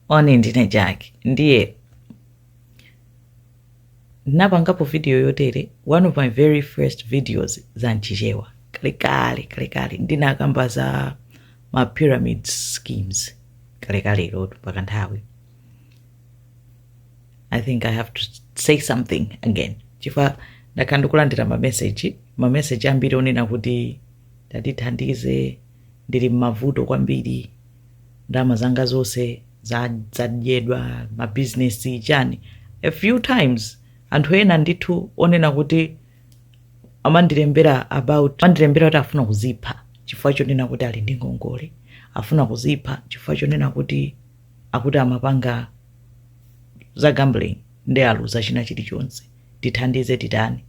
moni ndine jack ndiye ndinapangapo video yotere one of my very first videos za mchichewa kalekale kalekale ndinakamba za ma pyramid schemes kalekale lilotu mpaka nthawi i think i have to say something again chifukwa ndakhala ndikulandira mameseji mameseji ambiri onena kuti tatithandize ndili mmavuto kwambiri ndalama zanga zonse za- zadyedwa ma business chani a few times anthu ena ndithu onena kuti amandilembera about amandilembera kuti afuna kuzipha chifukwa chonena kuti ali ndi ngongole afuna kuzipha chifukwa chonena kuti akuti amapanga za gambling nde aluza china chilichonse tithandize titani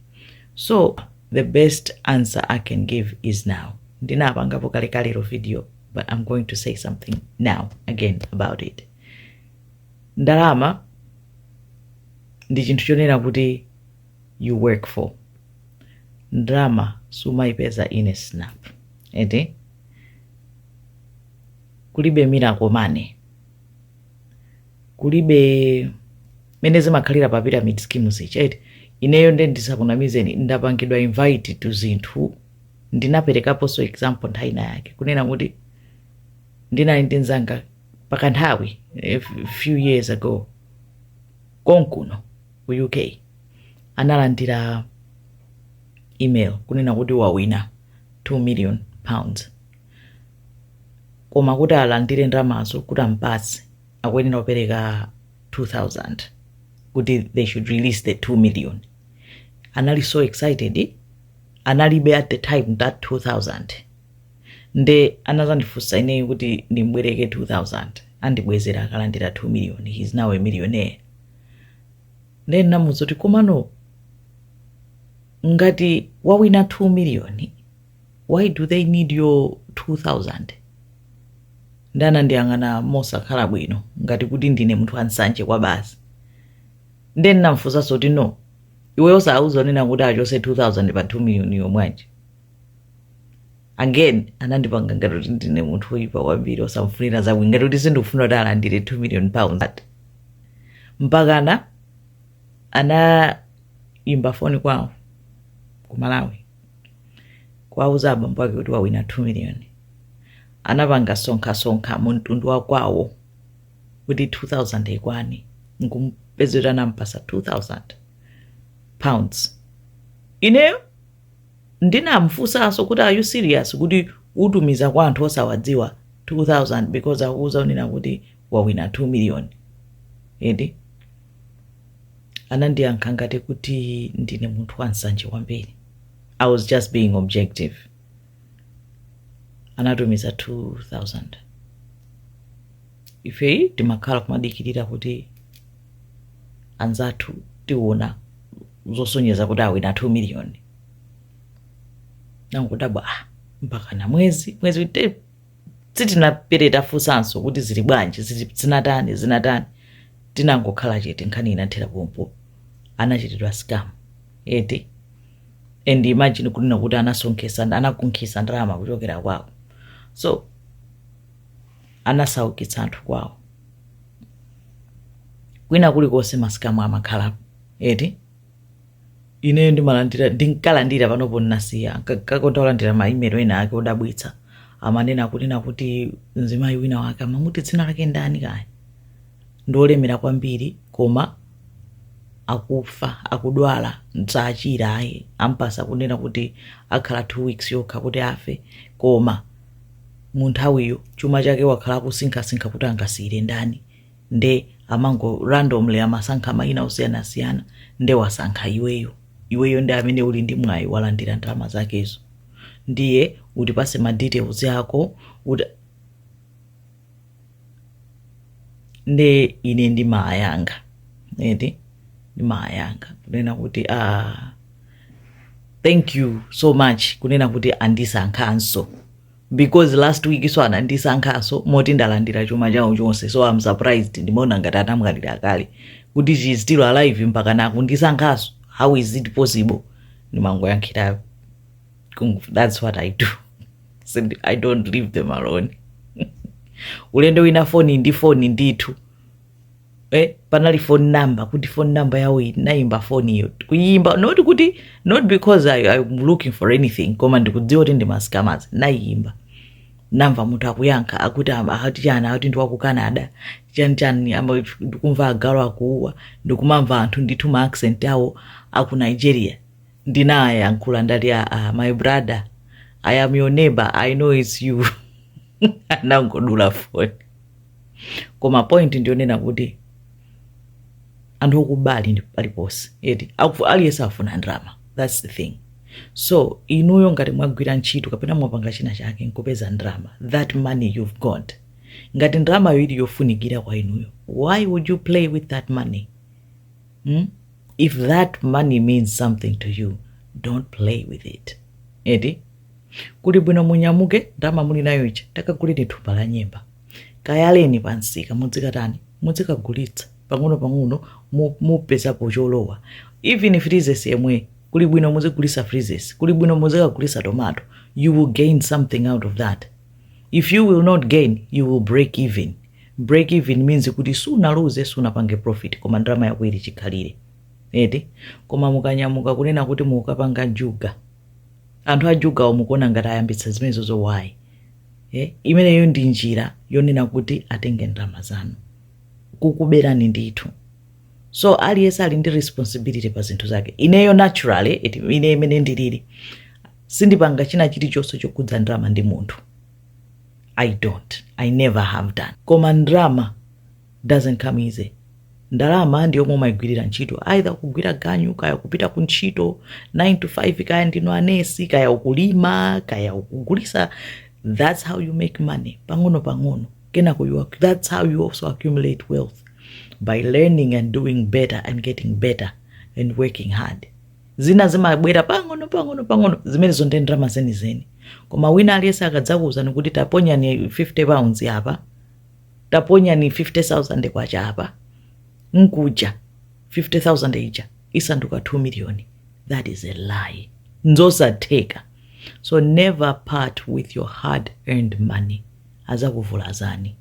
so the best answer i can give is now ndinapangapo kalekalero video but i'm going to say something now again about it ndalama ndi chinthu chonena kuti you work for ndalama sumayipeza ine snap eti kulibe miracle money kulibe mene zimakhalira pa pyramid schemes ichi eti ineyo nde ndisakunamizeni ndapangidwa invite to zinthu ndinaperekaponso example nthawi ina yake kunena kuti ndinali ndi nzanga pakanthawi a few years ago konkuno ku uk analandira email kunena kuti wawina 2 million pounds koma kuti alandire ndalamazo kuti ampatse akuyenera kupereka 2000 kuti they should release the 2 million anali so excited analibe at the time that 2000 nde anazandifunsa ineyo kuti ndimbwereke 2000 andibwezera akalandira 2 million he is now a millionaire nde ndinamuuza kuti komano ngati wawina 2 million why do they need your 2000 nde anandiyang'ana mosakhala bwino ngati kuti ndine munthu ansanje kwa basi nde ndinamfunsanso kuti no iweyo osauza onena kuti achose 2000 pa 2 million yomweyo again anandipanga ngati kuti ndine munthu oyipa kwambiri osamfunira zabwino ngati kuti sindikufuna kuti alandire 2 million pounds ati mpakana anayimba foni kwawo ku malawi kuwauza abambo ake kuti wawina 2 million anapanga sonkhasonkha mu mtundu wa kwawo kuti 2000 ikwane nkumpezera kuti anampasa 2000 pounds ineyo ndinamfunsanso kuti are you serious kuti utumiza kwa anthu osawadziwa 2000 because akuuza unena kuti wawina 2 million eti anandiyankha ngati kuti ndine munthu wa nsanje kwambiri i was just being objective anatumiza 2000 ife timakhala kumadikirira kuti anzathu tiona zosonyeza kuti awina 2 million nangodabwa ah, mpakana mwezi mwezi te- sitinaperete tafunsanso kuti zili bwanji zili- zinatani zinatani tinangokhala chete nkhani inathera pompo anachitidwa scam eti and imagine kunena kuti anasonkhesa anakunkhisa ndalama kuchokera kwawo so anasaukitsa anthu kwawo kwina kulikonse ma scam amakhalapo eti ineyo ndimalandira ndinkalandira panopo ndinasiya kukonda kulandira maimelo ena ake odabwitsa amanena kunena kuti mzimayi wina wake amamuti dzina lake ndani kaya ndiolemera kwambiri koma akufa akudwala sadzachira ayi ampasa kunena kuti akhala two weeks yokha kuti afe koma munthawiyo chuma chake wakhala akusinkhasinkha kuti angasiyire ndani nde amango randomly amasankha mayina osiyanasiyana nde wasankha iweyo iweyo ndi amene uli ndi mwayi wolandira ndalama zakezo ndiye utipase ma details ako uti nde ine ndimawayankha eti ndimawayankha kunena kuti ah, thank you so much kunena kuti andisankhanso because last weekso anandisankhanso moti ndalandira chuma chawo chonse so am surprised ndimaona ngati anamwalira kale kuti she is still alive mpaka nakundisankhanso how is it possible ndimangoyankhirapo Kung- that's what i do so i don't leave them alone ulendo wina foni ndi foni ndithu eh, panali phone number kuti phone number yawo iyi nayimba phone iyo kuyimba not kuti not because I, i'm looking for anything koma ndikudziwa kuti ndi ma scammers nayimba namva munthu akuyankha akuti am- akati chani akuti ndi waku canada chani chani ama- ndikumva agalu akuuwa ndikumamva anthu ndithu ma accent awo aku nigeria ndinayankhula ndati "Ah, ah, my brother i am your neighbor i know its you anangodula foni koma point ndiyonena kuti anthu okuba ali paliponse eti Aku- aliyense afuna ndalama thats the thing so inuyo ngati mwagwira ntchito kapena mwapanga china chake nkupeza ndalama that money you've got ngati ndalamayo ili yofunikira kwa inuyo why would you play with that money hmm? if that money means something to you don't play with it eti kuli bwino munyamuke ndalama muli nayo ija takaguleni thumba la nyemba kayaleni pa msika mudzikatani mudzikagulitsa pang'ono-pang'ono mu- mupezapo cholowa even freezes yemweyo kuli bwino muzigulisa freezes kuli bwino muzikagulisa tomato you will gain something out of that if you will not gain you will break even break even means kuti sunaluze sunapange profit koma ndalama yako ili chikhalire eti koma mukanyamuka kunena kuti mukapanga njuga anthu ajugawo mukuona ngati ayambitsa zimenezozo why eh, imeneyo ndi njira yonena kuti atenge ndalama zanu kukuberani ndithu so aliyense ali ndi responsibility pa zinthu zake ineyo naturally it, ine imene ndilili sindipanga china chilichonse chokhudza ndalama ndi munthu i don't i never have done koma ndalama doesn't come easy ndalama ndi yomwe umayigwirira ntchito either kugwira ganyu kaya kupita ku ntchito 9 to 5 kaya ndinu anesi kaya ukulima kaya ukugulisa that's how you make money pang'ono pang'ono kenako you, ac- that's how you also accumulate wealth by learning and doing better and getting better and working hard zina zimabwera pang'ono pang'ono pang'ono zimenezo ndi ndalama zenizeni koma wina aliyense akadzakuwuzani kuti taponyani 50 pounds apa taponyani K50,000 apa nkuja 50,000 ija isanduka 2 million that is a lie nzosatheka so never part with your hard earned money azakuvulazani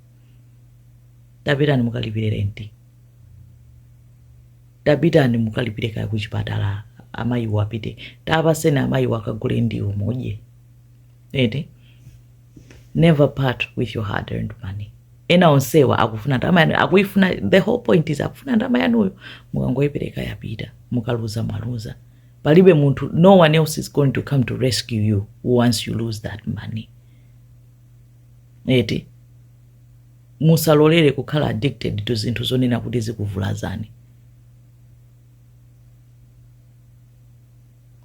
tapitani mukalipire renti tapitani mukalipire kaya kuchipatala amayiwo apite tapaseni amayiwo akagule ndiwo mudye eti never part with your hard earned money ena onsewa akufuna ndalama yanu akuifuna the whole point is akufuna ndalama yanuyo mukangoipereka yapita mukaluza mwaluza palibe munthu no one else is going to come to rescue you once you lose that money eti musalolere kukhala addicted to zinthu zonena kuti zikuvulazani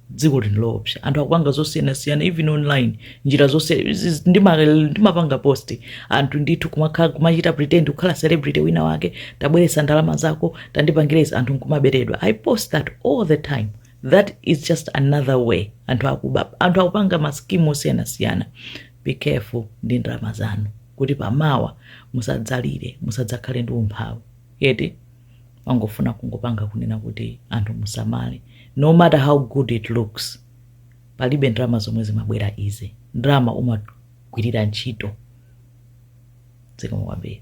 dziko lino loopsa anthu akupanga zosiyanasiyana even online njira zose ziz- ndima- ndimapanga post anthu ndithu kumakhala kumachita pretend kukhala celebrity wina wake tabweretsa ndalama zako tandipangire izi anthu nkumaberedwa i post that all the time that is just another way anthu akuba anthu akupanga maskimu osiyanasiyana be careful ndi ndalama zanu kuti pamawa musadzalire musadzakhale ndi umphawi eti nangofuna kungopanga kunena kuti anthu musamale no matter how good it looks palibe ndalama zomwe zimabwera easy ndalama umagwirira ntchito zikomo kwambiri